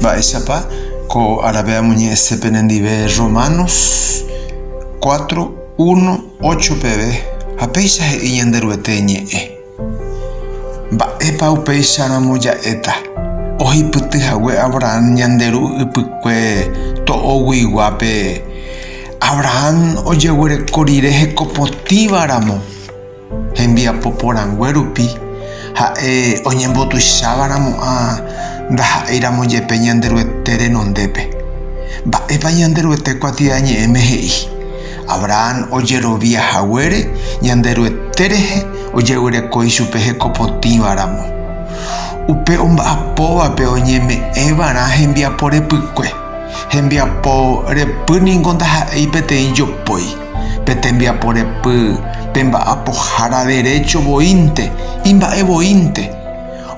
Mba'éichapa ko árape amoñe'ẽse penendive Romanos cuatro, uno, ocho peve, ha péicha he'i Ñanderuete ñe'ẽ. Mba'épa upéicharamo ja'éta? Ohipyty hague Abrahán ñande ru ypykue to'oguiguápe, Abrahán ojeguereko rire hekopotĩva ramo. Hembiapo porãngue rupi, ha'e oñembotuicháva ramo'ã ndaha'éiramo jepe Ñanderuete renondépe. Mba'épa Ñanderuete kuatiaña ñe'ẽme he'i? Abrahán ojerovia haguére Ñanderuete rehe ojegyreko ichupe hekopotĩva ramo. Upe omba'apóvape oñeme'ẽ va'erã hembiapo repykue. Hembiapo repy ningo ndaha'éi peteĩ jopói. Pe tembiapo repy, pe mba'apohára derécho voínte, imba'e voínte.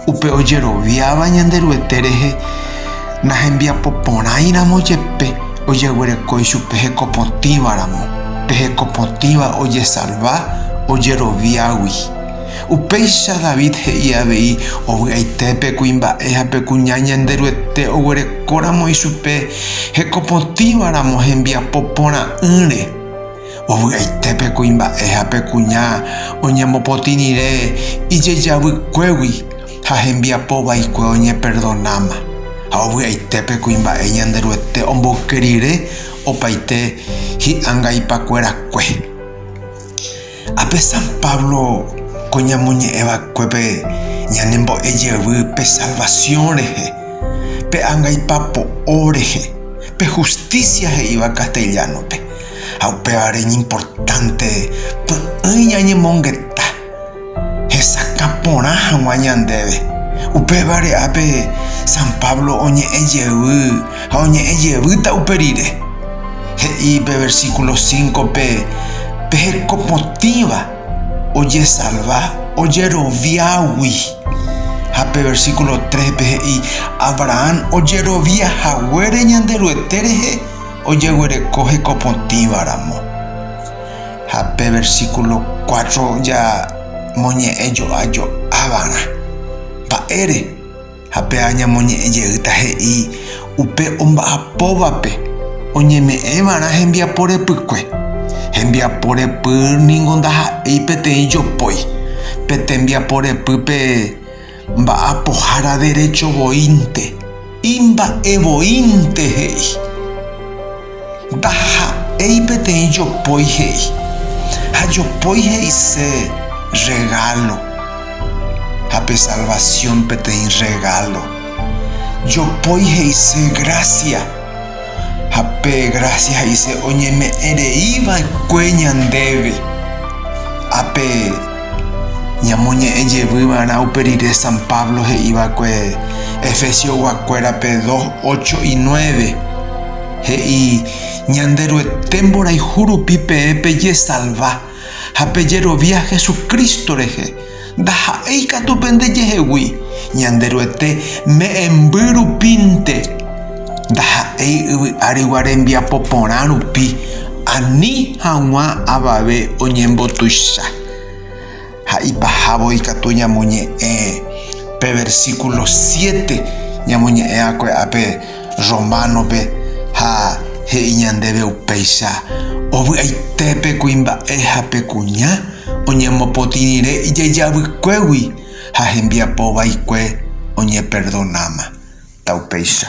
Upe ojeroviáva Ñanderuete rehe nahembiapo porãiramo jepe ojeguereko ichupe hekopotĩva ramo, pe hekopotĩva ojesalva ojeroviágui. Upéicha David he'i avei ovy'aite pe kuimba'e ha pe kuña Ñanderuete oguerekóramo ichupe hekopotĩva ramo hembiapo porã'ỹre. Ovy'aite pe kuimba'e ha pe kuña oñemopotĩ rire ijejavykuégui ha hembiapo vaikue oñeperdonáma. Ha ovy'aite pe kuimba'e Ñanderuete omboyke rire opaite hi'angaipakuerakue. Ápe San Pablo ko ñamoñe'ẽvakuépe ñanembo'e jevy pe salvación rehe, pe angaipa po'o rehe, pe justicia he'íva castellano-pe, ha upévare iñimportánte py'ỹi ñañemongeta hesakã porã hag̃ua ñandéve. Upévare ápe San Pablo oñe'ẽ jevy Ha oñe'ẽ jevýta upe rire. He'i pe versíkulo sínkope peheko potĩva ojesalva ojeroviágui. Ha pe versíkulo tréspe he'i Abrahán ojerovia haguére Ñanderuete rehe ojeguereko heko potĩvaramo. Ha pe versíkulo kuátro jamoñe'ẽ jo'ajo'ávag̃a. Mba'ére? Ha pe añamoñe'ẽ jeýta he'i upe omba'apóvape oñeme'ẽvarã hembiapo repykue. Hembiapo repy ningo ndaha'éi peteĩ jopói, pe tembiapo repýpe mba'apohára derecho voínte, imba'evoínte he'i. Ndaha'éi peteĩ jopói he'i, ha jopói he'ise rregálo, ha pe salvasión peteĩ rregálo. Jopói he'ise grásia, ha pe grásia he'ise oñeme'ẽ rei va'ekue ñandéve. Ha pe ñamoñe'ẽ jevy va'erã upe rire San Pablo he'i va'ekue Efesiogua kuérape dos, ocho y nueve. He'i, Ñanderuete mborayhu rupi peẽ pejesalva ha pejerovia Jesucristo rehe, ndaha'éi katu pende jehegui, Ñanderuete me'ẽmby rupínte, ndaha'éi yvy árigua rembiapo porã rupi, ani hag̃ua avave oñembotuicha. Ha ipahávo ikatu ñamoñe'ẽ pe versíkulo siete ñamoñe'ẽva'ekue ápe Románope ha he'i ñandéve upéicha, Ovy'aite pe kuimba'e ha pe kuña oñemopotĩ rire ijajavykégui ha hembiapo vaikue oñeperdonáma. Taupéicha.